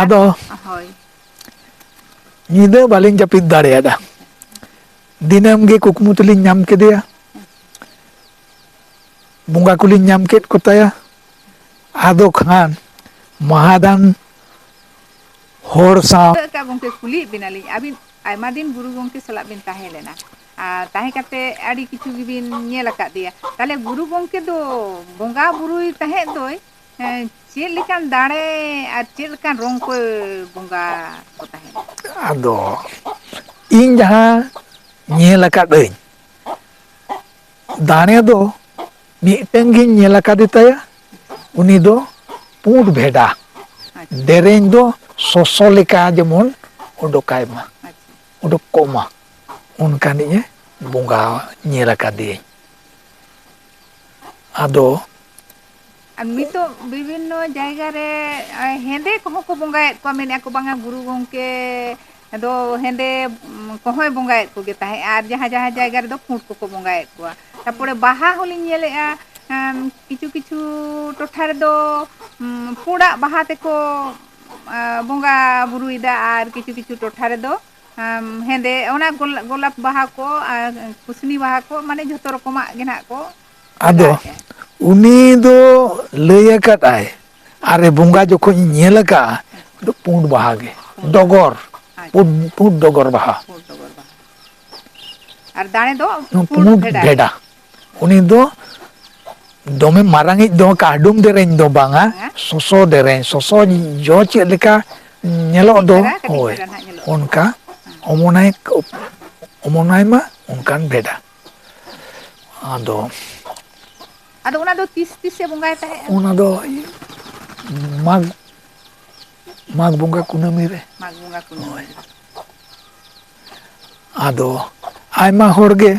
ᱟᱫᱚ ᱦᱳᱭ ᱧᱤᱫᱟᱹ ᱵᱟᱹᱞᱤᱧ ᱡᱟᱹᱯᱤᱫ ᱫᱟᱲᱮᱭᱟᱫᱟ ᱫᱤᱱᱟᱹᱢ ᱜᱮ ᱠᱩᱠᱢᱩ ᱛᱮᱞᱤᱧ ᱧᱟᱢ ᱠᱮᱫᱮᱭᱟ ᱵᱚᱸᱜᱟ ᱠᱚᱞᱤᱧ ᱧᱟᱢ ᱠᱮᱫ ᱠᱚᱛᱟᱭᱟ ᱟᱫᱚ ᱠᱷᱟᱱ ᱢᱟᱦᱟᱫᱟᱱ ᱦᱚᱲ ᱥᱟᱶ ᱪᱤᱠᱟᱹᱜ ᱠᱟᱜ ᱜᱚᱝᱠᱮ ᱠᱩᱞᱤᱭᱮᱫ ᱵᱮᱱᱟᱞᱤᱧ ᱟᱹᱵᱤᱱ ᱟᱭᱢᱟ ᱫᱤᱱ ᱜᱩᱨᱩ ᱜᱚᱝᱠᱮ ᱥᱟᱞᱟᱜ ᱵᱤᱱ ᱛᱟᱦᱮᱸ ᱞᱮᱱᱟ ᱟᱨ ᱛᱟᱦᱮᱸ ᱠᱟᱛᱮ ᱟᱹᱰᱤ ᱠᱤᱪᱷᱩ ᱜᱮᱵᱤᱱ ᱧᱮᱞ ᱟᱠᱟᱫᱮᱭᱟ ᱛᱟᱦᱚᱞᱮ ᱜᱩᱨᱩ ᱜᱚᱝᱠᱮ ᱫᱚ ᱵᱚᱸᱜᱟ ᱵᱩᱨᱩᱭ ᱛᱟᱦᱮᱸᱜ ᱫᱚᱭ ᱦᱮᱸ ᱪᱮᱫ ᱞᱮᱠᱟᱱ ᱫᱟᱲᱮ ᱟᱨ ᱪᱮᱫ ᱞᱮᱠᱟᱱ ᱨᱚᱝ ᱠᱚ ᱵᱚᱸᱜᱟ ᱠᱚ ᱛᱟᱦᱮᱸᱫ? ᱟᱫᱚ ᱤᱧ ᱡᱟᱦᱟᱸ ᱧᱮᱞ ᱟᱠᱟᱫ ᱟᱹᱧ ᱫᱟᱲᱮ ᱫᱚ ᱢᱤᱫᱴᱮᱱ ᱜᱤᱧ ᱧᱮᱞ ᱟᱠᱟᱫᱮ ᱛᱟᱭᱟ ᱟᱪᱪᱷᱟ ᱩᱱᱤ ᱫᱚ ᱯᱩᱸᱰ ᱵᱷᱮᱰᱟ ᱟᱪᱪᱷᱟ ᱫᱮᱨᱮᱧ ᱫᱚ ᱥᱚᱥᱚ ᱞᱮᱠᱟ ᱡᱮᱢᱚᱱ ᱩᱰᱩᱠᱟᱭ ᱢᱟ ᱟᱪᱪᱷᱟ ᱩᱰᱩᱠ ᱠᱚᱜ ᱢᱟ ᱚᱱᱠᱟᱱᱤᱡ ᱮ ᱵᱚᱸᱜᱟ ᱧᱮᱞ ᱟᱠᱟᱫᱮᱭᱟᱹᱧ ᱟᱫᱚ ᱟᱨ ᱱᱤᱛᱚᱜ ᱵᱤᱵᱷᱤᱱᱱᱚ ᱡᱟᱭᱜᱟ ᱨᱮ ᱦᱮᱸᱫᱮ ᱠᱚᱦᱚᱸ ᱠᱚ ᱵᱚᱸᱜᱟᱭᱮᱫ ᱠᱚᱣᱟ ᱢᱮᱱᱮᱫᱼᱟ ᱠᱚ ᱵᱟᱝᱟ ᱜᱩᱨᱩ ᱜᱚᱢᱠᱮ ᱟᱫᱚ ᱦᱮᱸᱫᱮ ᱠᱚᱦᱚᱸᱭ ᱵᱚᱸᱜᱟᱭᱮᱫ ᱠᱚᱜᱮ ᱛᱟᱦᱮᱸᱫ ᱟᱨ ᱡᱟᱦᱟᱸ ᱡᱟᱦᱟᱸ ᱡᱟᱭᱜᱟ ᱨᱮᱫᱚ ᱯᱩᱸᱰ ᱠᱚᱠᱚ ᱵᱚᱸᱜᱟᱭᱮᱫ ᱠᱚᱣᱟ ᱛᱟᱨᱯᱚᱨᱮ ᱵᱟᱦᱟ ᱦᱚᱞᱤᱧ ᱧᱮᱞᱮᱜᱼᱟ ᱠᱤᱪᱷᱩ ᱠᱤᱪᱷᱩ ᱠᱤᱪᱷᱩ ᱴᱚᱴᱷᱟ ᱨᱮᱫᱚ ᱯᱩᱲᱟᱜ ᱵᱟᱦᱟ ᱛᱮᱠᱚ ᱵᱚᱸᱜᱟ ᱵᱩᱨᱩᱭᱮᱫᱟ ᱟᱨ ᱠᱤᱪᱷᱩ ᱠᱤᱪᱷᱩ ᱴᱚᱴᱷᱟ ᱨᱮᱫᱚ ᱦᱮᱸᱫᱮ ᱚᱱᱟ ᱜᱳᱞᱟᱯ ᱵᱟᱦᱟ ᱠᱚ ᱟᱨ ᱠᱩᱥᱱᱤ ᱵᱟᱦᱟ ᱠᱚ ᱢᱟᱱᱮ ᱡᱷᱚᱛᱚ ᱨᱚᱠᱚᱢᱟᱜ ᱜᱮ ᱱᱟᱦᱟᱜ ᱠᱚ ᱟᱫᱚ ᱞᱟᱜᱟᱣᱮᱫᱼᱟ ᱩᱱᱤ ᱫᱚ ᱞᱟᱹᱭ ᱟᱠᱟᱫ ᱟᱭ ᱟᱨᱮ ᱵᱚᱸᱜᱟ ᱡᱚᱠᱷᱚᱱ ᱤᱧ ᱧᱮᱞ ᱟᱠᱟᱫᱼᱟ ᱫᱚ ᱯᱩᱸᱰ ᱵᱟᱦᱟ ᱜᱮ ᱯᱩᱸᱰ ᱵᱟᱦᱟ ᱰᱚᱜᱚᱨ ᱟᱪᱪᱷᱟ ᱯᱩᱸᱰ ᱯᱩᱸᱰ ᱰᱚᱜᱚᱨ ᱵᱟᱦᱟ ᱯᱩᱸᱰ ᱰᱚᱜᱚᱨ ᱵᱟᱦᱟ ᱟᱨ ᱫᱟᱲᱮ ᱫᱚ ᱯᱩᱸᱰ ᱯᱩᱸᱴ ᱵᱷᱮᱰᱟ ᱜᱮ ᱵᱷᱮᱰᱟ ᱩᱱᱤ ᱫᱚ ᱫᱚᱢᱮ ᱢᱟᱨᱟᱝ ᱤᱡ ᱫᱚ ᱠᱟᱹᱰᱩᱢ ᱫᱮᱨᱮᱧ ᱫᱚ ᱵᱟᱝᱟ ᱥᱚᱥᱚ ᱫᱮᱨᱮᱧ ᱥᱚᱥᱚ ᱡᱚ ᱪᱮᱫ ᱞᱮᱠᱟ ᱧᱮᱞᱚᱜ ᱠᱟᱹᱴᱤᱡ ᱫᱚ ᱫᱷᱟᱨᱟ ᱠᱟᱹᱴᱤᱡ ᱦᱳᱭ ᱫᱷᱟᱨᱟ ᱱᱟᱦᱟᱜ ᱧᱮᱞᱚᱜᱼᱟ ᱚᱱᱠᱟ ᱚᱢᱚᱱᱟᱭ ᱚᱢᱚᱱᱟᱭ ᱢᱟ ᱚᱱᱠᱟᱱ ᱵᱷᱮᱰᱟ ᱟᱫᱚ ᱟᱫᱚ ᱚᱱᱟ ᱫᱚ ᱛᱤᱥ ᱛᱤᱥᱮ ᱵᱚᱸᱜᱟᱭ ᱛᱟᱦᱮᱸᱜᱼᱟ ᱚᱱᱟ ᱫᱚ ᱢᱟᱜᱽ ᱢᱟᱜᱽ ᱵᱚᱸᱜᱟ ᱠᱩᱱᱟᱹᱢᱤ ᱨᱮ ᱢᱟᱜᱽ ᱵᱚᱸᱜᱟ ᱠᱩᱱᱟᱹᱢᱤ ᱦᱳᱭ ᱨᱮ ᱟᱫᱚ ᱟᱭᱢᱟ ᱦᱚᱲ ᱜᱮ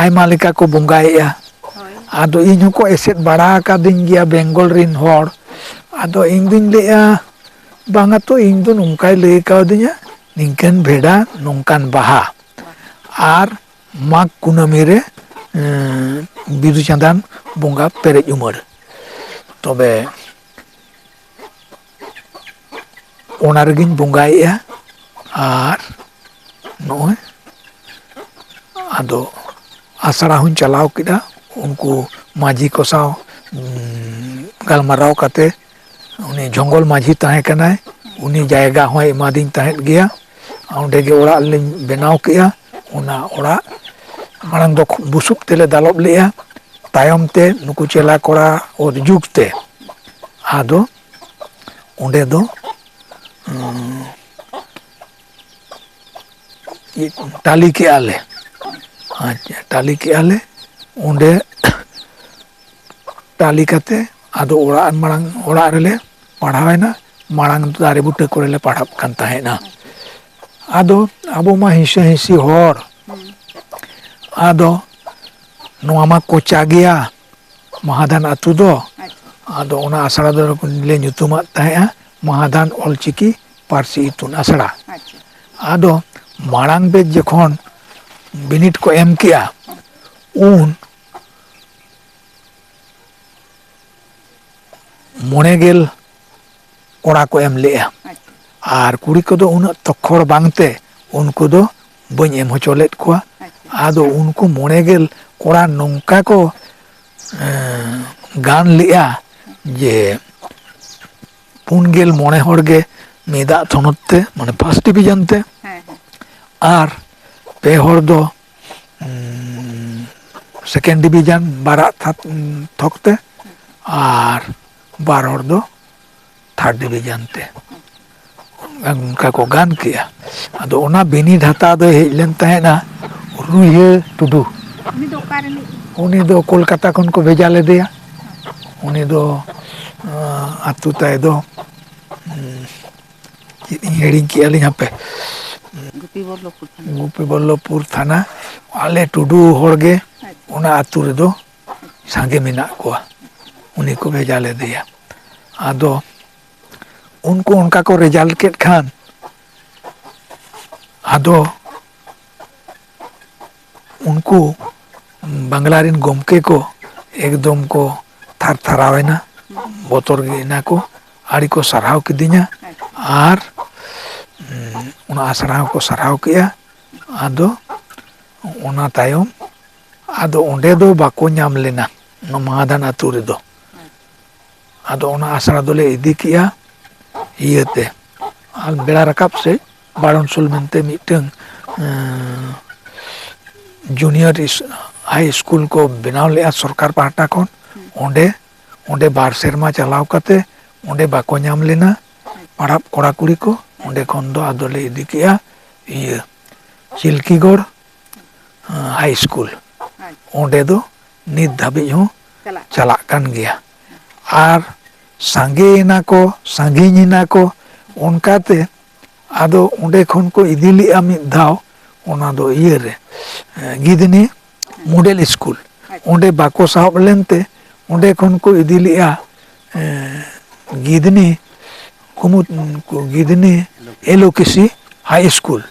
ᱟᱭᱢᱟ ᱞᱮᱠᱟ ᱠᱚ ᱵᱚᱸᱜᱟᱭᱮᱜᱼᱟ ᱦᱳᱭ ᱟᱫᱚ ᱤᱧ ᱦᱚᱸᱠᱚ ᱮᱥᱮᱫ ᱵᱟᱲᱟ ᱟᱠᱟᱫᱤᱧ ᱜᱮᱭᱟ ᱵᱮᱝᱜᱚᱞ ᱨᱮᱱ ᱦᱚᱲ ᱟᱫᱚ ᱤᱧ ᱫᱩᱧ ᱞᱟᱹᱭᱮᱜᱼᱟ ᱵᱟᱝᱟ ᱛᱚ ᱤᱧ ᱫᱚ ᱱᱚᱝᱠᱟᱭ ᱞᱟᱹᱭ ᱠᱟᱣᱫᱤᱧᱟ ᱱᱤᱝᱠᱟᱹᱱ ᱵᱷᱮᱰᱟ ᱱᱚᱝᱠᱟᱱ ᱵᱟᱦᱟ ᱵᱟᱦᱟ ᱟᱨ ᱢᱟᱜᱽ ᱠᱩᱱᱟᱹᱢᱤ ᱨᱮ ᱵᱤᱫᱩ ᱪᱟᱸᱫᱟᱱ ᱵᱚᱸᱜᱟ ᱯᱮᱨᱮᱡ ᱩᱢᱟᱹᱲ ᱛᱚᱵᱮ ᱚᱱᱟ ᱨᱮᱜᱮᱧ ᱵᱚᱸᱜᱟᱭᱮᱫᱼᱟ ᱟᱨ ᱱᱚᱜᱼᱚᱭ ᱟᱫᱚ ᱟᱥᱲᱟ ᱦᱚᱧ ᱪᱟᱞᱟᱣ ᱠᱮᱫᱟ ᱩᱱᱠᱩ ᱢᱟᱹᱡᱷᱤ ᱠᱚ ᱥᱟᱶ ᱜᱟᱞᱢᱟᱨᱟᱣ ᱠᱟᱛᱮᱫ ᱩᱱᱤ ᱡᱚᱝᱜᱚᱞ ᱢᱟᱹᱡᱷᱤ ᱛᱟᱦᱮᱸ ᱠᱟᱱᱟᱭ ᱩᱱᱤ ᱡᱟᱭᱜᱟ ᱦᱚᱸᱭ ᱮᱢᱟᱫᱤᱧ ᱛᱟᱦᱮᱸᱫ ᱜᱮᱭᱟ ᱚᱸᱰᱮ ᱜᱮ ᱚᱲᱟᱜ ᱞᱤᱧ ᱵᱮᱱᱟᱣ ᱠᱮᱜᱼᱟ ᱚᱱᱟ ᱚᱲᱟᱜ ᱢᱟᱲᱟᱝ ᱫᱚ ᱵᱩᱥᱩᱵ ᱛᱮᱞᱮ ᱫᱟᱞᱚᱵ ᱞᱮᱜᱼᱟ ᱛᱟᱭᱚᱢ ᱛᱮ ᱱᱩᱠᱩ ᱪᱮᱞᱟ ᱠᱚᱲᱟ ᱠᱚ ᱡᱩᱜᱽ ᱛᱮ ᱟᱫᱚ ᱚᱸᱰᱮ ᱫᱚ ᱴᱟᱞᱤ ᱠᱮᱜᱼᱟ ᱞᱮ ᱟᱪᱪᱷᱟ ᱴᱟᱞᱤ ᱠᱮᱜᱼᱟ ᱞᱮ ᱚᱸᱰᱮ ᱴᱟᱞᱤ ᱠᱟᱛᱮ ᱟᱫᱚ ᱚᱲᱟᱜ ᱢᱟᱲᱟᱝ ᱚᱲᱟᱜ ᱨᱮᱞᱮ ᱯᱟᱲᱦᱟᱣᱮᱱᱟ ᱢᱟᱲᱟᱝ ᱫᱚ ᱫᱟᱨᱮ ᱵᱩᱴᱟᱹ ᱠᱚᱨᱮ ᱞᱮ ᱯᱟᱲᱦᱟᱜ ᱠᱟᱱ ᱛᱟᱦᱮᱸᱱᱟ ᱟᱫᱚ ᱟᱵᱚ ᱢᱟ ᱦᱤᱥᱟᱹ ᱦᱤᱥᱤ ᱦᱚᱲ ᱟᱫᱚ ᱱᱚᱣᱟ ᱢᱟ ᱠᱚᱪᱟ ᱜᱮᱭᱟ ᱢᱟᱦᱟᱫᱟᱱ ᱟᱛᱳ ᱫᱚ ᱟᱪᱪᱷᱟ ᱟᱫᱚ ᱚᱱᱟ ᱟᱥᱲᱟ ᱫᱚ ᱞᱮ ᱧᱩᱛᱩᱢᱟᱜ ᱛᱟᱦᱮᱸᱜᱼᱟ ᱢᱟᱦᱟᱫᱟᱱ ᱚᱞᱪᱤᱠᱤ ᱯᱟᱹᱨᱥᱤ ᱤᱛᱩᱱ ᱟᱥᱲᱟ ᱟᱪᱪᱷᱟ ᱟᱫᱚ ᱢᱟᱲᱟᱝ ᱫᱚ ᱡᱚᱠᱷᱚᱱ ᱵᱤᱱᱤᱰ ᱠᱚ ᱮᱢ ᱠᱮᱜᱼᱟ ᱩᱱ ᱢᱚᱬᱮ ᱜᱮᱞ ᱠᱚᱲᱟ ᱠᱚ ᱮᱢ ᱞᱮᱜᱼᱟ ᱟᱪᱪᱷᱟ ᱟᱨ ᱠᱩᱲᱤ ᱠᱚᱫᱚ ᱩᱱᱟᱹᱜ ᱛᱚᱠᱷᱚᱲ ᱵᱟᱝᱛᱮ ᱩᱱᱠᱩ ᱫᱚ ᱵᱟᱹᱧ ᱮᱢ ᱦᱚᱪᱚ ᱞᱮᱫ ᱠᱚᱣᱟ ᱟᱪᱪᱷᱟ ᱟᱫᱚ ᱩᱱᱠᱩ ᱢᱚᱬᱮ ᱜᱮᱞ ᱠᱚᱲᱟ ᱱᱚᱝᱠᱟ ᱠᱚ ᱜᱟᱱ ᱞᱮᱜᱼᱟ ᱡᱮ ᱯᱩᱱ ᱜᱮᱞ ᱢᱚᱬᱮ ᱦᱚᱲ ᱜᱮ ᱢᱤᱫᱟᱜ ᱛᱷᱚᱱᱚᱛ ᱛᱮ ᱢᱟᱱᱮ ᱯᱷᱟᱥᱴ ᱰᱤᱵᱷᱤᱡᱚᱱ ᱛᱮ ᱦᱮᱸ ᱦᱮᱸ ᱟᱨ ᱯᱮ ᱦᱚᱲ ᱫᱚ ᱥᱮᱠᱮᱱᱰ ᱰᱤᱵᱷᱤᱡᱮᱱ ᱵᱟᱨᱟᱜ ᱛᱷᱚᱠ ᱛᱮ ᱟᱨ ᱵᱟᱨ ᱦᱚᱲ ᱫᱚ ᱛᱷᱟᱨᱰ ᱰᱤᱵᱷᱤᱡᱮᱱ ᱛᱮ ᱚᱱᱠᱟ ᱠᱚ ᱜᱟᱱ ᱠᱮᱜᱼᱟ ᱟᱫᱚ ᱚᱱᱟ ᱵᱤᱱᱤᱰ ᱦᱟᱛᱟᱣ ᱫᱚᱭ ᱦᱮᱡ ᱞᱮᱱ ᱛᱟᱦᱮᱸᱫᱼᱟ ᱨᱩᱭᱦᱟᱹ ᱴᱩᱰᱩ ᱩᱱᱤ ᱫᱚ ᱠᱳᱞᱠᱟᱛᱟ ᱠᱷᱚᱱ ᱠᱚ ᱵᱷᱮᱡᱟ ᱞᱮᱫᱮᱭᱟ ᱩᱱᱤ ᱫᱚ ᱟᱛᱳ ᱛᱟᱭ ᱫᱚ ᱪᱮᱫ ᱤᱧ ᱦᱤᱲᱤᱧ ᱠᱮᱜᱼᱟ ᱞᱤᱧ ᱦᱟᱯᱮ ᱜᱩᱯᱤ ᱵᱚᱞᱞᱚᱵᱽᱯᱩᱨ ᱛᱷᱟᱱᱟ ᱜᱩᱯᱤ ᱵᱚᱞᱞᱚᱵᱽᱯᱩᱨ ᱛᱷᱟᱱᱟ ᱟᱞᱮ ᱴᱩᱰᱩ ᱦᱚᱲ ᱜᱮ ᱚᱱᱟ ᱟᱹᱛᱩ ᱨᱮᱫᱚ ᱥᱟᱸᱜᱮ ᱢᱮᱱᱟᱜ ᱠᱚᱣᱟ ᱩᱱᱤ ᱠᱚ ᱵᱷᱮᱡᱟ ᱞᱮᱫᱮᱭᱟ ᱟᱫᱚ ᱩᱱᱠᱩ ᱚᱱᱠᱟ ᱠᱚ ᱨᱮᱡᱟᱞᱴ ᱠᱮᱫ ᱠᱷᱟᱱ ᱟᱫᱚ ᱩᱱᱠᱩ ᱵᱟᱝᱞᱟ ᱨᱮᱱ ᱜᱚᱢᱠᱮ ᱠᱚ ᱮᱠᱫᱚᱢ ᱠᱚ ᱛᱷᱟᱨ ᱛᱷᱟᱨᱟᱣ ᱮᱱᱟ ᱵᱚᱛᱚᱨ ᱜᱮ ᱮᱱᱟ ᱠᱚ ᱟᱹᱰᱤ ᱠᱚ ᱥᱟᱨᱦᱟᱣ ᱠᱤᱫᱤᱧᱟ ᱟᱨ ᱚᱱᱟ ᱟᱥᱲᱟ ᱦᱚᱸᱠᱚ ᱥᱟᱨᱦᱟᱣ ᱠᱮᱜᱼᱟ ᱟᱫᱚ ᱚᱱᱟ ᱛᱟᱭᱚᱢ ᱟᱫᱚ ᱚᱸᱰᱮ ᱫᱚ ᱵᱟᱠᱚ ᱧᱟᱢ ᱞᱮᱱᱟ ᱚᱱᱟ ᱢᱟᱦᱟᱫᱟᱱ ᱟᱛᱳ ᱨᱮᱫᱚ ᱟᱫᱚ ᱚᱱᱟ ᱟᱥᱲᱟ ᱫᱚᱞᱮ ᱤᱫᱤ ᱠᱮᱜᱼᱟ ᱤᱭᱟᱹᱛᱮ ᱟᱨ ᱵᱮᱲᱟ ᱨᱟᱠᱟᱵ ᱥᱮᱫ ᱵᱟᱨᱚᱱ ᱥᱳᱞ ᱢᱮᱱᱛᱮ ᱢᱤᱫᱴᱟᱝ ᱡᱩᱱᱤᱭᱟᱨ ᱦᱟᱭ ᱤᱥᱠᱩᱞ ᱠᱚ ᱵᱮᱱᱟᱣ ᱞᱮᱫᱼᱟ ᱥᱚᱨᱠᱟᱨ ᱯᱟᱦᱴᱟ ᱠᱷᱚᱱ ᱚᱸᱰᱮ ᱚᱸᱰᱮ ᱵᱟᱨ ᱥᱮᱨᱢᱟ ᱪᱟᱞᱟᱣ ᱠᱟᱛᱮ ᱚᱸᱰᱮ ᱵᱟᱠᱚ ᱧᱟᱢ ᱞᱮᱱᱟ ᱯᱟᱲᱦᱟᱜ ᱠᱚᱲᱟ ᱠᱩᱲᱤ ᱠᱚ ᱚᱸᱰᱮ ᱠᱷᱚᱱ ᱫᱚ ᱟᱫᱚᱞᱮ ᱤᱫᱤ ᱠᱮᱜᱼᱟ ᱤᱭᱟᱹ ᱪᱤᱞᱠᱤᱜᱚᱲ ᱦᱟᱭ ᱤᱥᱠᱩᱞ ᱚᱸᱰᱮ ᱫᱚ ᱱᱤᱛ ᱫᱷᱟᱹᱵᱤᱡ ᱦᱚᱸ ᱪᱟᱞᱟᱜ ᱠᱟᱱ ᱜᱮᱭᱟ ᱟᱨ ᱥᱟᱸᱜᱮᱭᱮᱱᱟ ᱠᱚ ᱥᱟᱺᱜᱤᱧ ᱮᱱᱟ ᱠᱚ ᱚᱱᱠᱟᱛᱮ ᱟᱫᱚ ᱚᱸᱰᱮ ᱠᱷᱚᱱ ᱠᱚ ᱤᱫᱤ ᱞᱮᱫᱼᱟ ᱢᱤᱫ ᱫᱷᱟᱣ ᱚᱱᱟ ᱫᱚ ᱤᱭᱟᱹ ᱨᱮ ᱜᱤᱫᱽᱱᱤ ᱢᱚᱰᱮᱞ ᱥᱠᱩᱞ ᱚᱸᱰᱮ ᱵᱟᱠᱚ ᱥᱟᱦᱚᱵ ᱞᱮᱱᱛᱮ ᱚᱸᱰᱮ ᱠᱷᱚᱱ ᱠᱚ ᱤᱫᱤ ᱞᱮᱫᱼᱟ ᱜᱤᱫᱽᱱᱤ ᱠᱩᱢᱩᱫ ᱜᱤᱫᱽᱱᱤ ᱮᱞᱳᱠᱮᱥᱤ ᱦᱟᱭ ᱥᱠᱩᱞ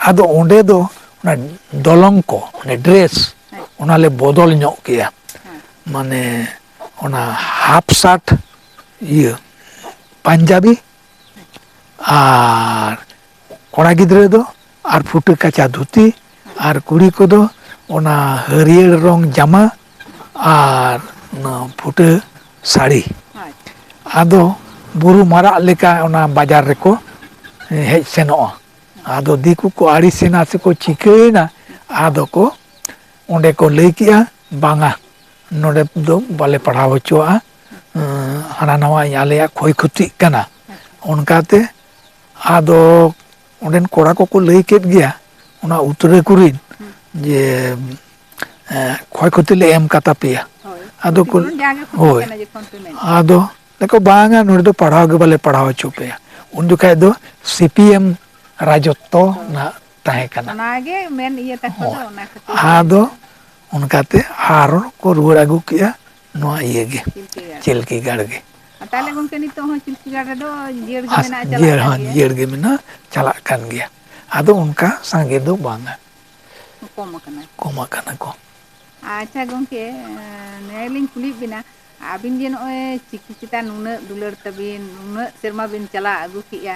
ᱟᱫᱚ ᱚᱸᱰᱮ ᱫᱚ ᱚᱱᱟ ᱫᱚᱞᱚᱝ ᱠᱚ ᱢᱟᱱᱮ ᱰᱨᱮᱥ ᱚᱱᱟᱞᱮ ᱵᱚᱫᱚᱞ ᱧᱚᱜ ᱠᱮᱭᱟ ᱢᱟᱱᱮ ᱚᱱᱟ ᱦᱟᱯ ᱥᱟᱨᱴ ᱤᱭᱟᱹ ᱯᱟᱧᱡᱟᱵᱤ ᱟᱨ ᱠᱚᱲᱟ ᱜᱤᱫᱽᱨᱟᱹ ᱫᱚ ᱟᱨ ᱯᱷᱩᱴᱟᱹ ᱠᱟᱪᱟ ᱫᱷᱩᱛᱤ ᱟᱨ ᱠᱩᱲᱤ ᱠᱚᱫᱚ ᱚᱱᱟ ᱦᱟᱹᱨᱭᱟᱹᱲ ᱨᱚᱝ ᱡᱟᱢᱟ ᱟᱨ ᱚᱱᱟ ᱯᱷᱩᱴᱟᱹ ᱥᱟᱹᱲᱤ ᱟᱫᱚ ᱵᱩᱨᱩ ᱢᱟᱨᱟᱜ ᱞᱮᱠᱟ ᱚᱱᱟ ᱵᱟᱡᱟᱨ ᱨᱮᱠᱚ ᱦᱮᱡ ᱥᱮᱱᱚᱜᱼᱟ ᱟᱫᱚ ᱫᱤᱠᱩ ᱠᱚ ᱟᱹᱲᱤᱥᱮᱱᱟ ᱥᱮᱠᱚ ᱪᱤᱠᱟᱹᱭᱮᱱᱟ ᱟᱫᱚ ᱠᱚ ᱚᱸᱰᱮ ᱠᱚ ᱞᱟᱹᱭ ᱠᱮᱜᱼᱟ ᱵᱟᱝᱟ ᱱᱚᱰᱮ ᱫᱚ ᱵᱟᱞᱮ ᱯᱟᱲᱦᱟᱣ ᱦᱚᱪᱚᱣᱟᱜᱼᱟ ᱦᱟᱱᱟ ᱱᱟᱣᱟ ᱟᱞᱮᱭᱟᱜ ᱠᱷᱚᱭ ᱠᱷᱚᱛᱤᱜ ᱠᱟᱱᱟ ᱚᱱᱠᱟᱛᱮ ᱟᱫᱚ ᱚᱸᱰᱮᱱ ᱠᱚᱲᱟ ᱠᱚᱠᱚ ᱞᱟᱹᱭ ᱠᱮᱫ ᱜᱮᱭᱟ ᱚᱱᱟ ᱩᱛᱨᱟᱹ ᱠᱚᱨᱮᱤᱱ ᱡᱮ ᱠᱷᱚᱭ ᱠᱷᱚᱛᱤ ᱞᱮ ᱮᱢ ᱠᱟᱛᱟ ᱯᱮᱭᱟ ᱟᱫᱚ ᱠᱚ ᱦᱳᱭ ᱟᱫᱚ ᱞᱟᱹᱭᱟᱠᱚ ᱵᱟᱝᱟ ᱱᱚᱸᱰᱮ ᱫᱚ ᱯᱟᱲᱦᱟᱣ ᱜᱮ ᱵᱟᱞᱮ ᱯᱟᱲᱦᱟᱣ ᱦᱚᱪᱚ ᱯᱮᱭᱟ ᱩᱱ ᱡᱚᱠᱷᱟᱡ ᱫᱚ ᱥᱤ ᱯᱤ ᱮᱢ ᱨᱟᱡᱽᱡᱚᱛᱛᱚ ᱱᱟᱦᱟᱜ ᱛᱟᱦᱮᱸ ᱠᱟᱱᱟ ᱚᱱᱟᱜᱮ ᱢᱮᱱ ᱤᱭᱟᱹ ᱛᱟᱠᱚ ᱫᱚ ᱚᱱᱟ ᱠᱷᱟᱹᱛᱤᱨ ᱟᱫᱚ ᱚᱱᱠᱟᱛᱮ ᱟᱨᱚ ᱠᱚ ᱨᱩᱣᱟᱹᱲ ᱟᱹᱜᱩ ᱠᱮᱜᱼᱟ ᱱᱚᱣᱟ ᱤᱭᱟᱹ ᱜᱮ ᱪᱤᱞᱠᱤ ᱜᱟᱲ ᱪᱤᱞᱠᱤ ᱜᱟᱲ ᱜᱮ ᱟᱨ ᱛᱟᱦᱚᱞᱮ ᱜᱚᱝᱠᱮ ᱱᱤᱛᱚᱜ ᱦᱚᱸ ᱪᱤᱞᱠᱤ ᱜᱟᱲ ᱨᱮᱫᱚ ᱡᱤᱭᱟᱹᱲ ᱜᱮ ᱟᱥ ᱢᱮᱱᱟᱜᱼᱟ ᱪᱟᱞᱟᱜ ᱡᱤᱭᱟᱹᱲ ᱠᱟᱱ ᱦᱚᱸ ᱜᱮᱭᱟ ᱡᱤᱭᱟᱹᱲ ᱜᱮ ᱢᱮᱱᱟᱜᱼᱟ ᱪᱟᱞᱟᱜ ᱠᱟᱱ ᱜᱮᱭᱟ ᱟᱫᱚ ᱚᱱᱠᱟ ᱥᱟᱸᱜᱮ ᱫᱚ ᱵᱟᱝᱟ ᱠᱚᱢ ᱟᱠᱟᱱᱟ ᱠᱚᱢ ᱟᱠᱟᱱᱟ ᱠᱚ ᱟᱪᱪᱷᱟ ᱜᱚᱝᱠᱮ ᱱᱚᱣᱟ ᱞᱤᱧ ᱠᱩᱞᱤᱭᱮᱫ ᱵᱤᱱᱟ ᱟᱹᱵᱤᱱ ᱡᱮ ᱱᱚᱜᱼᱚᱭ ᱪᱤᱠᱤ ᱪᱮᱛᱟᱱ ᱱᱩᱱᱟᱹᱜ ᱫᱩᱞᱟᱹᱲ ᱛᱟᱹᱵᱤᱱ ᱱᱩᱱᱟᱹᱜ ᱥᱮᱨᱢᱟ ᱵᱤᱱ ᱪᱟᱞᱟᱣ ᱟᱹᱜᱩ ᱠᱮᱜᱼᱟ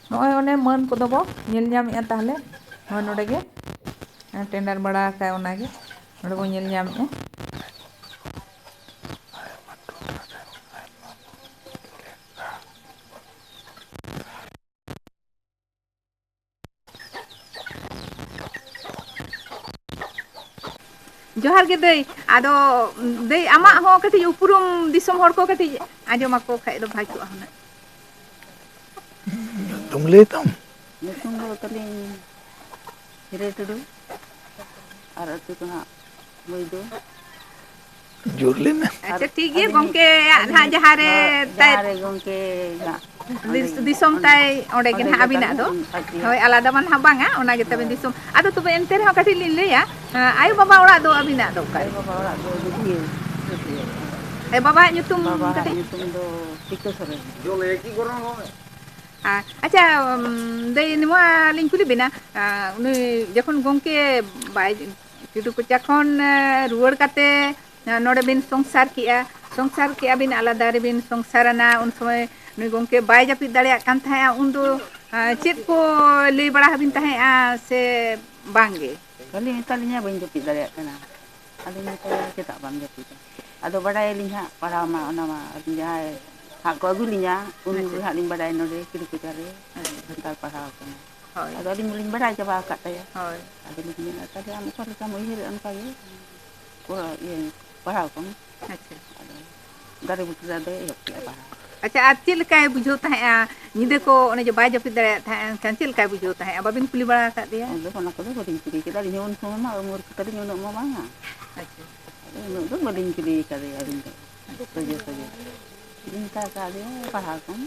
ᱱᱚᱜᱼᱚᱭ ᱚᱱᱮ ᱢᱟᱹᱱ ᱠᱚᱫᱚ ᱵᱚ ᱧᱮᱞ ᱧᱟᱢᱮᱜᱼᱟ ᱛᱟᱦᱚᱞᱮ ᱱᱚᱜᱼᱚᱭ ᱱᱚᱰᱮ ᱜᱮ ᱴᱮᱱᱰᱟᱨ ᱵᱟᱲᱟ ᱟᱠᱟᱫ ᱚᱱᱟ ᱜᱮ ᱱᱚᱰᱮ ᱵᱚᱱ ᱧᱮᱞ ᱧᱟᱢᱮᱜᱼᱟ ᱡᱚᱦᱟᱨ ᱜᱮ ᱫᱟᱹᱭ ᱟᱫᱚ ᱫᱟᱹᱭ ᱟᱢᱟᱜ ᱦᱚᱸ ᱠᱟᱹᱴᱤᱡ ᱩᱯᱨᱩᱢ ᱫᱤᱥᱚᱢ ᱦᱚᱲ ᱠᱚ ᱠᱟᱹᱴᱤᱡ ᱟᱸᱡᱚᱢ ᱟᱠᱚ ᱠᱷᱟᱱ ᱫᱚ ᱵᱷᱟᱜᱮ ᱠᱚᱜᱼᱟ ᱦᱩᱱᱟᱹᱝ ᱧᱩᱛᱩᱢ ᱞᱟᱹᱭ ᱛᱟᱢ ᱧᱩᱛᱩᱢ ᱫᱚ ᱛᱟᱹᱞᱤᱧ ᱦᱤᱨᱟᱹᱭ ᱴᱩᱰᱩ ᱟᱨ ᱟᱹᱛᱩ ᱫᱚ ᱦᱟᱸᱜ ᱵᱟᱹᱭᱫᱟᱹ ᱡᱳᱨ ᱞᱟᱹᱭ ᱢᱮ ᱟᱪᱪᱷᱟ ᱴᱷᱤᱠ ᱜᱮᱭᱟ ᱜᱚᱝᱠᱮᱭᱟᱜ ᱱᱟᱦᱟᱜ ᱡᱟᱦᱟᱸ ᱨᱮ ᱛᱟᱭ ᱜᱚᱝᱠᱮ ᱫᱤᱥᱚᱢ ᱛᱟᱭ ᱚᱸᱰᱮ ᱜᱮ ᱱᱟᱦᱟᱜ ᱟᱹᱵᱤᱱᱟᱜ ᱫᱚ ᱦᱳᱭ ᱟᱞᱟᱫᱟ ᱢᱟ ᱱᱟᱦᱟᱜ ᱵᱟᱝᱟ ᱚᱱᱟ ᱜᱮ ᱛᱟᱵᱤᱱ ᱫᱤᱥᱚᱢ ᱟᱫᱚ ᱛᱚᱵᱮ ᱮᱱᱛᱮ ᱨᱮᱦᱚᱸ ᱠᱟᱹᱴᱤᱡ ᱞᱤᱧ ᱞᱟᱹᱭᱟ ᱟᱭᱳ ᱵᱟᱵᱟ ᱚᱲᱟᱜ ᱫᱚ ᱟᱹᱵᱤᱱᱟᱜ ᱫᱚ ᱚᱠᱟᱨᱮ ᱦᱮᱸ ᱵᱟᱵᱟᱣᱟᱜ ᱧᱩᱛᱩᱢ ᱠᱟᱹᱴᱤᱡ ᱡᱚᱢ ᱢᱮ ᱠᱤ ᱜᱚᱨᱚᱢ ᱦᱚᱸ ᱢᱮ ᱟᱨ ᱟᱪᱪᱷᱟ ᱫᱟᱹᱭ ᱱᱚᱣᱟ ᱞᱤᱧ ᱠᱩᱞᱤ ᱵᱮᱱᱟ ᱩᱱᱤ ᱡᱚᱠᱷᱚᱱ ᱜᱚᱝᱠᱮ ᱵᱟᱭ ᱴᱤᱴᱩ ᱠᱚᱪᱟ ᱠᱷᱚᱱ ᱨᱩᱣᱟᱹᱲ ᱠᱟᱛᱮ ᱱᱚᱰᱮ ᱵᱤᱱ ᱥᱚᱝᱥᱟᱨ ᱠᱮᱜᱼᱟ ᱥᱚᱝᱥᱟᱨ ᱠᱮᱜᱼᱟ ᱵᱤᱱ ᱟᱞᱟᱫᱟ ᱨᱮᱵᱤᱱ ᱥᱚᱝᱥᱟᱨᱱᱟ ᱩᱱ ᱥᱚᱢᱚᱭ ᱱᱩᱭ ᱜᱚᱝᱠᱮ ᱵᱟᱭ ᱡᱟᱹᱯᱤᱫ ᱫᱟᱲᱮᱭᱟᱜ ᱠᱟᱱ ᱛᱟᱦᱮᱸᱜᱼᱟ ᱩᱱᱫᱚ ᱪᱮᱫ ᱠᱚ ᱞᱟᱹᱭ ᱵᱟᱲᱟ ᱟᱹᱵᱤᱱ ᱛᱟᱦᱮᱸᱜᱼᱟ ᱥᱮ ᱵᱟᱝᱜᱮ ᱠᱷᱟᱹᱞᱤ ᱢᱮᱛᱟ ᱞᱤᱧᱟᱹ ᱵᱟᱹᱧ ᱡᱟᱹᱯᱤᱫ ᱫᱟᱲᱮᱭᱟᱜ ᱠᱟᱱᱟ ᱟᱫᱚᱧ ᱢᱮᱛᱟᱭᱟ ᱪᱮᱫᱟᱜ ᱵᱟᱢ ᱡᱟᱹᱯᱤᱫᱟ ᱟᱫᱚ ᱵᱟᱰᱟᱭᱟᱞᱤᱧ ᱦᱟᱸᱜ ᱯᱟᱲᱦᱟᱣ ᱢᱟ ᱚᱱᱟ ᱢᱟ ᱡᱟᱦᱟᱸᱭ ᱦᱟᱸᱜ ᱠᱚ ᱟᱹᱜᱩ ᱞᱤᱧᱟ ᱩᱱ ᱨᱮ ᱦᱟᱸᱜ ᱞᱤᱧ ᱵᱟᱰᱟᱭᱟ ᱱᱚᱰᱮ ᱠᱤᱨᱤ ᱠᱚᱪᱟ ᱨᱮ ᱥᱟᱱᱛᱟᱲ ᱯᱟᱲᱦᱟᱣ ᱟᱠᱟᱱᱟ ᱟᱫᱚ ᱟᱹᱞᱤᱧ ᱢᱟᱞᱤᱧ ᱵᱟᱲᱟᱭ ᱪᱟᱵᱟ ᱟᱠᱟᱫ ᱛᱟᱭᱟ ᱟᱫᱚ ᱞᱤᱧ ᱢᱮᱱᱟ ᱛᱟᱦᱚᱞᱮ ᱟᱢ ᱚᱠᱟ ᱞᱮᱠᱟᱢ ᱩᱭᱦᱟᱹᱨᱮᱜᱼᱟ ᱚᱱᱠᱟᱜᱮ ᱠᱚᱨᱟᱣ ᱤᱭᱟᱹ ᱯᱟᱲᱦᱟᱣ ᱠᱚᱢ ᱟᱫᱚ ᱫᱟᱨᱮ ᱵᱩᱴᱟᱹ ᱨᱮ ᱟᱫᱚᱭ ᱮᱦᱚᱵ ᱠᱮᱫᱼᱟ ᱯᱟᱲᱦᱟᱣ ᱟᱪᱪᱷᱟ ᱟᱨ ᱪᱮᱫ ᱞᱮᱠᱟᱭ ᱵᱩᱡᱷᱟᱹᱣ ᱛᱟᱦᱮᱸᱜᱼᱟ ᱧᱤᱫᱟᱹ ᱠᱚ ᱚᱱᱮ ᱡᱮ ᱵᱟᱭ ᱡᱟᱹᱯᱤᱫ ᱫᱟᱲᱮᱭᱟᱜ ᱛᱟᱦᱮᱸᱜᱼᱟ ᱮᱱᱠᱷᱟᱱ ᱪᱮᱫ ᱞᱮᱠᱟᱭ ᱵᱩᱡᱷᱟᱹᱣ ᱛᱟᱦᱮᱸᱜᱼᱟ ᱵᱟᱵᱤᱱ ᱠᱩᱞᱤ ᱵᱟᱲᱟ ᱟᱠᱟᱫ ᱫᱮᱭᱟ ᱟᱫᱚ ᱚᱱᱟ ᱠᱚᱫᱚ ᱵᱟᱹᱞᱤᱧ ᱠᱩᱞᱤ ᱠᱮᱫᱟ ᱟᱹᱞᱤᱧ ᱦᱚᱸ ᱩᱱ ᱥᱚᱢᱚᱭ ᱢᱟ ᱢᱩᱨᱠᱷ ᱠᱟᱹᱞᱤᱧ ᱩᱱᱟᱹᱜ ᱢᱟ ᱵᱟᱝᱟ ᱟᱪᱪᱷᱟ ᱟᱫᱚ ᱩᱱᱟᱹᱜ ᱫᱚ ᱵᱟᱹᱞᱤᱧ ᱠᱩᱞᱤ ᱠᱟᱫᱮᱭᱟ ᱟᱹᱞᱤᱧ ᱫᱚ ᱥᱚᱡᱷᱮ ᱥᱚᱡᱷᱮ ᱢᱮᱛᱟ ᱠᱟᱫᱮᱭᱟ ᱯᱟᱲᱦᱟᱣ ᱠᱚᱢ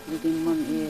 ᱡᱩᱫᱤ ᱢᱚᱱ ᱤᱭᱟᱹ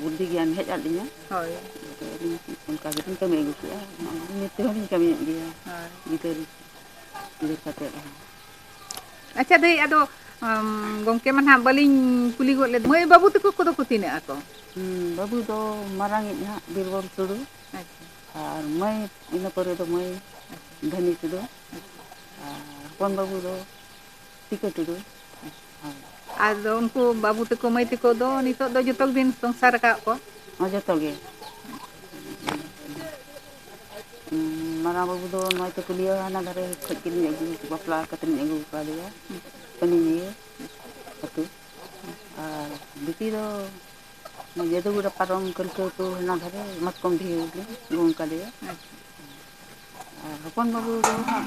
ᱵᱩᱫᱽᱫᱷᱤ ᱜᱮᱭᱟᱱ ᱦᱮᱡ ᱟᱫ ᱞᱤᱧᱟᱹ ᱦᱳᱭ ᱚᱱᱠᱟ ᱜᱮᱞᱤᱧ ᱠᱟᱹᱢᱤ ᱟᱹᱜᱩ ᱠᱮᱜᱼᱟ ᱱᱤᱛ ᱛᱮᱦᱚᱸ ᱞᱤᱧ ᱠᱟᱹᱢᱤᱭᱮᱫ ᱜᱮᱭᱟ ᱦᱳᱭ ᱜᱤᱫᱟᱹᱨ ᱤᱭᱟᱹ ᱠᱟᱛᱮ ᱨᱮᱦᱚᱸ ᱟᱪᱪᱷᱟ ᱫᱟᱹᱭ ᱟᱫᱚ ᱜᱚᱝᱠᱮ ᱢᱟ ᱱᱟᱦᱟᱜ ᱵᱟᱹᱞᱤᱧ ᱠᱩᱞᱤ ᱜᱚᱫ ᱞᱮᱫ ᱢᱟᱹᱭ ᱵᱟᱹᱵᱩ ᱛᱟᱠᱚ ᱠᱚᱫᱚ ᱠᱚ ᱛᱤᱱᱟᱹᱜ ᱟᱠᱚ ᱦᱩᱸ ᱵᱟᱹᱵᱩ ᱫᱚ ᱢᱟᱨᱟᱝ ᱤᱡ ᱦᱟᱸᱜ ᱵᱤᱨᱵᱚᱞ ᱴᱩᱰᱩ ᱟᱪᱪᱷᱟ ᱟᱨ ᱢᱟᱹᱭ ᱤᱱᱟᱹ ᱯᱚᱨᱮ ᱫᱚ ᱢᱟᱹᱭ ᱟᱪᱪᱷᱟ ᱫᱷᱟᱹᱱᱤ ᱴᱩᱰᱩ ᱟᱪᱪᱷᱟ ᱟᱨ ᱦᱚᱯᱚᱱ ᱵᱟᱹᱵᱩ ᱫᱚ ᱴᱤᱠᱟᱹ ᱴᱩᱰᱩ ᱟᱫᱚ ᱩᱱᱠᱩ ᱵᱟᱹᱵᱩ ᱛᱟᱠᱚ ᱢᱟᱹᱭ ᱛᱟᱠᱚ ᱫᱚ ᱱᱤᱛᱚᱜ ᱫᱚ ᱡᱚᱛᱚ ᱜᱮᱵᱤᱱ ᱥᱚᱝᱥᱟᱨ ᱟᱠᱟᱫ ᱠᱚᱣᱟ ᱦᱚᱸ ᱡᱚᱛᱚ ᱜᱮ ᱢᱟᱨᱟᱝ ᱵᱟᱹᱵᱩ ᱫᱚ ᱱᱚᱜᱼᱚᱭ ᱛᱚ ᱠᱩᱞᱤᱭᱟᱹ ᱦᱟᱱᱟ ᱫᱷᱟᱨᱮ ᱠᱷᱚᱱ ᱜᱮᱞᱤᱧ ᱟᱹᱜᱩ ᱵᱟᱯᱞᱟ ᱠᱟᱛᱮ ᱞᱤᱧ ᱟᱹᱜᱩ ᱟᱠᱟᱫᱮᱭᱟ ᱩᱱᱤ ᱜᱮ ᱟᱛᱳ ᱟᱨ ᱵᱤᱴᱤ ᱫᱚ ᱡᱟᱹᱫᱩ ᱜᱚᱲᱟ ᱯᱟᱨᱚᱢ ᱠᱟᱹᱞᱠᱟᱹ ᱟᱛᱳ ᱦᱟᱱᱟ ᱫᱷᱟᱨᱮ ᱢᱟᱛᱠᱚᱢ ᱰᱷᱤᱦᱤ ᱨᱮᱞᱤᱧ ᱜᱚᱝ ᱠᱟᱫᱮᱭᱟ ᱟᱨ ᱦᱚᱯᱚᱱ ᱵᱟᱹᱵᱩ ᱫᱚ ᱦᱟᱸᱜ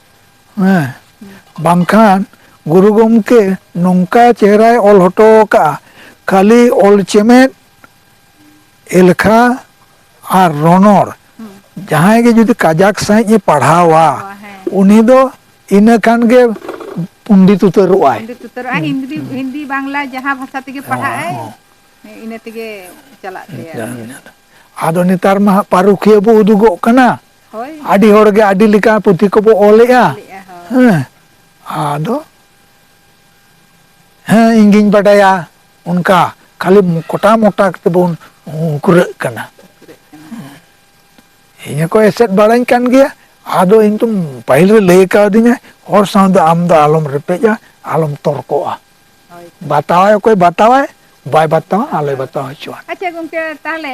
ᱦᱮᱸ ᱵᱟᱝᱠᱷᱟᱱ ᱜᱩᱨᱩ ᱜᱚᱢᱠᱮ ᱱᱚᱝᱠᱟ ᱪᱮᱦᱨᱟᱭ ᱚᱞ ᱦᱚᱴᱚ ᱟᱠᱟᱫᱼᱟ ᱠᱷᱟᱹᱞᱤ ᱚᱞ ᱪᱮᱢᱮᱫ ᱮᱞᱠᱷᱟ ᱟᱨ ᱨᱚᱱᱚᱲ ᱦᱩᱸ ᱡᱟᱦᱟᱸᱭ ᱜᱮ ᱡᱩᱫᱤ ᱠᱟᱡᱟᱠ ᱥᱟᱹᱦᱤᱡ ᱮ ᱯᱟᱲᱦᱟᱣᱟ ᱩᱱᱤ ᱫᱚ ᱤᱱᱟᱹ ᱠᱷᱟᱱ ᱜᱮ ᱯᱚᱱᱰᱤᱛ ᱩᱛᱟᱹᱨᱚᱜ ᱟᱭ ᱯᱚᱱᱰᱤᱛ ᱩᱛᱟᱹᱨᱚᱜᱼᱟ ᱦᱩᱸ ᱦᱤᱱᱫᱤ ᱦᱩᱸ ᱦᱤᱱᱫᱤ ᱵᱟᱝᱞᱟ ᱡᱟᱦᱟᱸ ᱵᱷᱟᱥᱟ ᱛᱮᱜᱮ ᱯᱟᱲᱦᱟᱜᱼ ᱟᱭ ᱦᱚᱸ ᱦᱮᱸ ᱤᱱᱟᱹ ᱛᱮᱜᱮ ᱪᱟᱞᱟᱜ ᱛᱟᱭᱟ ᱟᱨᱠᱤ ᱟᱫᱚ ᱱᱮᱛᱟᱨ ᱢᱟ ᱦᱟᱸᱜ ᱯᱟᱹᱨᱩᱠᱷᱤᱭᱟᱹ ᱵᱚ ᱩᱰᱩᱜᱚᱜ ᱠᱟᱱᱟ ᱦᱳᱭ ᱟᱹᱰᱤ ᱦᱚᱲ ᱜᱮ ᱟᱹᱰᱤ ᱞᱮᱠᱟ ᱯᱩᱛᱷᱤ ᱠᱚᱵᱚ ᱚᱞᱮᱜᱼᱟ ᱚᱞᱮᱜᱼᱟ ᱦᱳᱭ ᱦᱮᱸ ᱟᱫᱚ ᱦᱮᱸ ᱤᱧ ᱜᱤᱧ ᱵᱟᱰᱟᱭᱟ ᱚᱱᱠᱟ ᱠᱷᱟᱹᱞᱤ ᱠᱚᱴᱟ ᱢᱚᱴᱟ ᱠᱟᱛᱮ ᱵᱚᱱ ᱩᱠᱷᱨᱟᱹᱜ ᱠᱟᱱᱟ ᱩᱠᱷᱨᱟᱹᱜ ᱠᱟᱱᱟ ᱤᱧ ᱦᱚᱸᱠᱚ ᱮᱥᱮᱫ ᱵᱟᱲᱟᱧ ᱠᱟᱱ ᱜᱮᱭᱟ ᱟᱫᱚ ᱤᱧ ᱫᱚ ᱯᱟᱹᱦᱤᱞ ᱨᱮ ᱞᱟᱹᱭ ᱠᱟᱣᱫᱤᱧᱟ ᱦᱚᱲ ᱥᱟᱶ ᱫᱚ ᱟᱢ ᱫᱚ ᱟᱞᱚᱢ ᱨᱮᱯᱮᱡᱼᱟ ᱟᱞᱚᱢ ᱛᱚᱨᱠᱚᱜᱼᱟ ᱦᱳᱭᱛᱚ ᱵᱟᱛᱟᱣᱟᱭ ᱚᱠᱚᱭ ᱵᱟᱛᱟᱣᱟᱭ ᱵᱟᱭ ᱵᱟᱛᱟᱣᱟ ᱟᱞᱚᱭ ᱵᱟᱛᱟᱣ ᱦᱚᱪᱚᱣᱟᱱ ᱟᱪᱪᱷᱟ ᱜᱚᱝᱠᱮ ᱛᱟᱦᱚᱞᱮ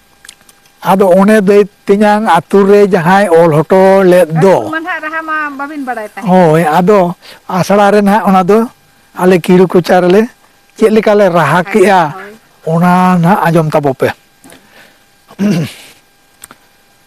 ᱟᱫᱚ ᱚᱱᱮ ᱫᱟᱹᱭ ᱛᱮᱧᱟᱝ ᱟᱛᱳ ᱨᱮ ᱡᱟᱦᱟᱸᱭ ᱚᱞ ᱦᱚᱴᱚ ᱞᱮᱫ ᱫᱚ ᱟᱹᱞᱤᱧ ᱢᱟ ᱱᱟᱦᱟᱜ ᱨᱟᱦᱟ ᱢᱟ ᱵᱟᱹᱵᱤᱱ ᱵᱟᱲᱟᱭ ᱛᱟᱦᱮᱸ ᱠᱟᱱᱟ ᱦᱳᱭ ᱟᱫᱚ ᱟᱥᱲᱟ ᱨᱮ ᱱᱟᱦᱟᱜ ᱚᱱᱟ ᱫᱚ ᱟᱞᱮ ᱠᱤᱲᱩ ᱠᱚᱪᱟ ᱨᱮᱞᱮ ᱪᱮᱫ ᱞᱮᱠᱟ ᱞᱮ ᱨᱟᱦᱟ ᱨᱟᱦᱟᱭ ᱠᱮᱜᱼᱟ ᱛᱟᱦᱮᱸᱫ ᱦᱳᱭ ᱚᱱᱟ ᱱᱟᱦᱟᱜ ᱟᱸᱡᱚᱢ ᱛᱟᱵᱚ ᱯᱮ ᱦᱳᱭ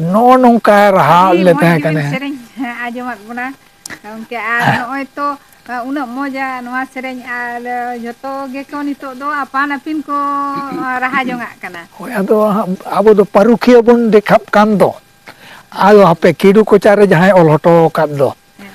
ᱱᱚᱜᱼᱚ ᱱᱚᱝ ᱟᱹᱰᱤ ᱢᱚᱡᱽ ᱜᱮᱵᱮᱱ ᱥᱮᱨᱮᱧ ᱦᱮᱸ ᱟᱸᱡᱚᱢᱟᱫ ᱵᱚᱱᱟ ᱜᱚᱝᱠᱮ ᱟᱨ ᱱᱚᱜᱼᱚᱭ ᱛᱚ ᱩᱱᱟᱹᱜ ᱢᱚᱡᱟ ᱱᱚᱣᱟ ᱥᱮᱨᱮᱧ ᱟᱨ ᱡᱷᱚᱛᱚ ᱜᱮᱠᱚ ᱱᱤᱛᱚᱜ ᱫᱚ ᱟᱯᱟᱱ ᱟᱹᱯᱤᱱ ᱯᱤᱱ ᱠᱚ ᱨᱟᱦᱟ ᱡᱚᱝᱟᱜ ᱠᱟᱱᱟ᱾ ᱦᱳᱭ ᱟᱫᱚ ᱦᱟᱸᱜ ᱟᱵᱚ ᱫᱚ ᱯᱟᱹᱨᱩᱠᱷᱤᱭᱟᱹ ᱵᱚᱱ ᱫᱮᱠᱷᱟᱜ ᱠᱟᱱ ᱫᱚ᱾ ᱟᱫᱚ ᱦᱟᱯᱮ ᱠᱤᱰᱩ ᱠᱚᱪᱟᱨᱮ ᱡᱟᱦᱟᱸᱭ ᱚᱞ ᱦᱚᱴᱚ ᱟᱠᱟᱫ ᱫᱚ᱾ ᱦᱮᱸ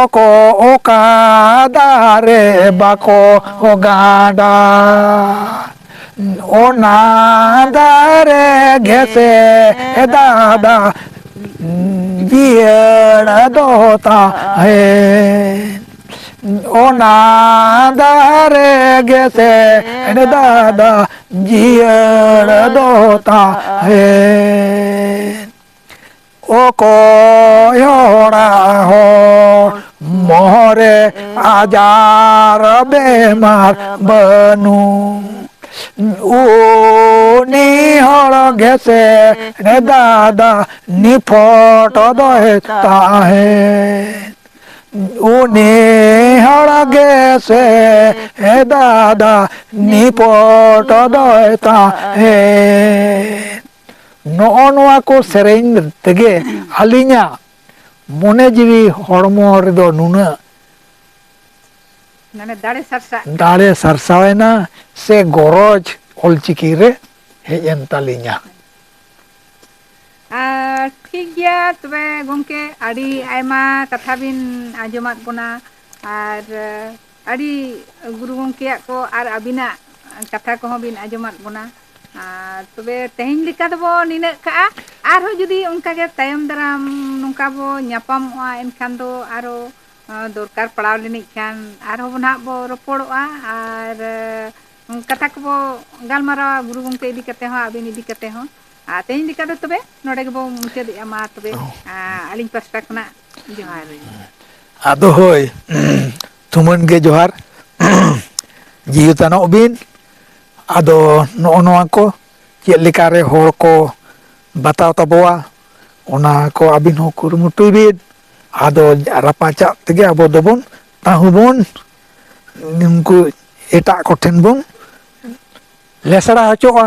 ᱚᱠᱚ ᱚᱠᱟ ᱫᱟᱨᱮ ᱵᱟᱠᱚ ᱜᱟᱰᱟ ᱚᱱᱟ ᱫᱟᱨᱮ ᱜᱷᱮᱥᱮ ᱫᱟᱫᱟ ᱡᱤᱭᱟᱹᱲ ᱫᱚ ᱛᱟᱦᱮᱸ ᱚᱱᱟ ᱫᱟᱨᱮ ᱜᱮᱥᱮ ᱫᱟᱫᱟ ᱡᱤᱭᱟᱹᱲ ᱫᱚ ᱛᱟᱦᱮᱸ ᱚᱠᱚᱭ ᱦᱚᱲᱟᱜ ᱦᱚᱲ ᱢᱚᱦᱚᱨᱮ ᱟᱡᱟᱨ ᱵᱮᱢᱟᱨ ᱵᱟᱹᱱᱩᱜ ᱩᱱᱤ ᱦᱚᱲ ᱜᱮᱥᱮ ᱫᱟᱫᱟ ᱱᱤᱯᱷᱚᱴ ᱫᱚᱭ ᱛᱟᱦᱮᱸ ᱩᱱᱤ ᱦᱚᱲ ᱜᱮᱥᱮ ᱫᱟᱫᱟ ᱱᱤᱯᱷᱚᱴ ᱫᱚᱭ ᱛᱟᱦᱮᱸ ᱱᱚᱜᱼᱚ ᱱᱚᱣᱟ ᱠᱚ ᱥᱮᱨᱮᱧ ᱛᱮᱜᱮ ᱟᱹᱞᱤᱧᱟᱜ ᱢᱚᱱᱮ ᱡᱤᱣᱤ ᱦᱚᱲᱢᱚ ᱨᱮᱫᱚ ᱱᱩᱱᱟᱹᱜ ᱢᱟᱱᱮ ᱫᱟᱲᱮ ᱥᱟᱨᱥᱟᱜ ᱠᱟᱱᱟ ᱫᱟᱲᱮ ᱥᱟᱨᱥᱟᱣ ᱮᱱᱟ ᱥᱮ ᱜᱚᱨᱚᱡᱽ ᱚᱞ ᱪᱤᱠᱤ ᱨᱮ ᱦᱮᱡ ᱮᱱ ᱛᱟᱞᱤᱧᱟ ᱟᱨ ᱴᱷᱤᱠ ᱜᱮᱭᱟ ᱛᱚᱵᱮ ᱜᱚᱝᱠᱮ ᱟᱹᱰᱤ ᱟᱭᱢᱟ ᱠᱟᱛᱷᱟ ᱵᱤᱱ ᱟᱸᱡᱚᱢᱟᱫ ᱵᱚᱱᱟ ᱟᱨ ᱟᱹᱰᱤ ᱜᱩᱨᱩ ᱜᱚᱝᱠᱮᱭᱟᱜ ᱠᱚ ᱟᱨ ᱟᱹᱵᱤᱱᱟᱜ ᱠᱟᱛᱷᱟ ᱠᱚᱦᱚᱸ ᱵᱤᱱ ᱟᱸᱡᱚᱢᱟᱫ ᱵᱚᱱᱟ᱾ ᱟᱨ ᱛᱚᱵᱮ ᱛᱮᱦᱮᱧ ᱞᱮᱠᱟ ᱫᱚᱵᱚ ᱱᱤᱱᱟᱹᱜ ᱠᱟᱜᱼᱟ᱾ ᱟᱨᱦᱚᱸ ᱡᱩᱫᱤ ᱚᱱᱠᱟᱜᱮ ᱛᱟᱭᱚᱢ ᱫᱟᱨᱟᱢ ᱱᱚᱝᱠᱟ ᱵᱚ ᱧᱟᱯᱟᱢᱚᱜᱼᱟ ᱮᱱᱠᱷᱟᱱ ᱫᱚ ᱟᱨᱚ ᱫᱚᱨᱠᱟᱨ ᱯᱟᱲᱟᱣ ᱞᱮᱱᱤᱡ ᱠᱷᱟᱱ ᱟᱨᱦᱚᱸ ᱵᱚ ᱱᱟᱦᱟᱜ ᱵᱚ ᱨᱚᱯᱚᱲᱚᱜᱼᱟ ᱟᱨ ᱠᱟᱛᱷᱟ ᱠᱚᱵᱚ ᱜᱟᱞᱢᱟᱨᱟᱣᱟ ᱜᱩᱨᱩ ᱜᱚᱝᱠᱮ ᱤᱫᱤ ᱠᱟᱛᱮ ᱦᱚᱸ ᱟᱹᱵᱤᱱ ᱤᱫᱤ ᱠᱟᱛᱮ ᱦᱚᱸ᱾ ᱟᱨ ᱛᱮᱦᱮᱧ ᱞᱮᱠᱟ ᱫᱚ ᱛᱚᱵᱮ ᱱᱚᱰᱮ ᱜᱮᱵᱚ ᱢᱩᱪᱟᱹᱫᱮᱜᱼᱟ ᱢᱟ ᱛᱚᱵᱮ ᱟᱹᱞᱤᱧ ᱯᱟᱥᱴᱟ ᱠᱷᱚᱱᱟᱜ ᱡᱚᱦᱟᱨ ᱨᱮ ᱟᱫᱚ ᱦᱳᱭ ᱛᱩᱢᱟᱹᱱ ᱜᱮ ᱡᱚᱦᱟᱨ ᱡᱤᱣᱤᱫᱟᱱᱚᱜ ᱵᱤᱱ ᱟᱫᱚ ᱱᱚᱜᱼᱚ ᱱᱚᱣᱟ ᱠᱚ ᱪᱮᱫ ᱞᱮᱠᱟᱨᱮ ᱦᱚᱲ ᱠᱚ ᱵᱟᱛᱟᱣ ᱛᱟᱵᱚᱣᱟ ᱚᱱᱟ ᱠᱚ ᱟᱹᱵᱤᱱ ᱦᱚᱸ ᱠᱩᱨᱩᱢᱩᱴᱩᱭ ᱵᱤᱱ ᱟᱫᱚ ᱨᱟᱯᱟᱪᱟᱜ ᱛᱮᱜᱮ ᱟᱵᱚ ᱫᱚᱵᱚᱱ ᱛᱟᱦᱩᱸ ᱵᱚᱱ ᱩᱱᱠᱩ ᱮᱴᱟᱜ ᱠᱚᱴᱷᱮᱱ ᱵᱚᱱ ᱞᱮᱥᱲᱟ ᱦᱚᱪᱚᱜᱼᱟ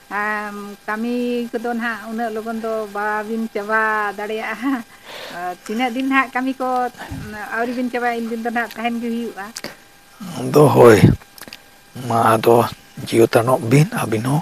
ᱟᱨ ᱠᱟᱹᱢᱤ ᱠᱚᱫᱚ ᱱᱟᱦᱟᱜ ᱩᱱᱟᱹᱜ ᱞᱚᱜᱚᱱ ᱫᱚ ᱵᱟᱵᱤᱱ ᱪᱟᱵᱟ ᱫᱟᱲᱮᱭᱟᱜᱼᱟ ᱛᱤᱱᱟᱹᱜ ᱫᱤᱱ ᱦᱟᱸᱜ ᱠᱟᱹᱢᱤ ᱠᱚ ᱟᱹᱣᱨᱤ ᱵᱤᱱ ᱪᱟᱵᱟᱭᱟ ᱤᱧ ᱫᱤᱱ ᱫᱚ ᱱᱟᱦᱟᱜ ᱛᱟᱦᱮᱱ ᱜᱮ ᱦᱩᱭᱩᱜᱼᱟ ᱟᱫᱚ ᱦᱳᱭ ᱢᱟ ᱟᱫᱚ ᱡᱤᱣᱤ ᱛᱟᱦᱚᱱᱚᱜ ᱵᱤᱱ ᱟᱹᱵᱤᱱ ᱦᱚᱸ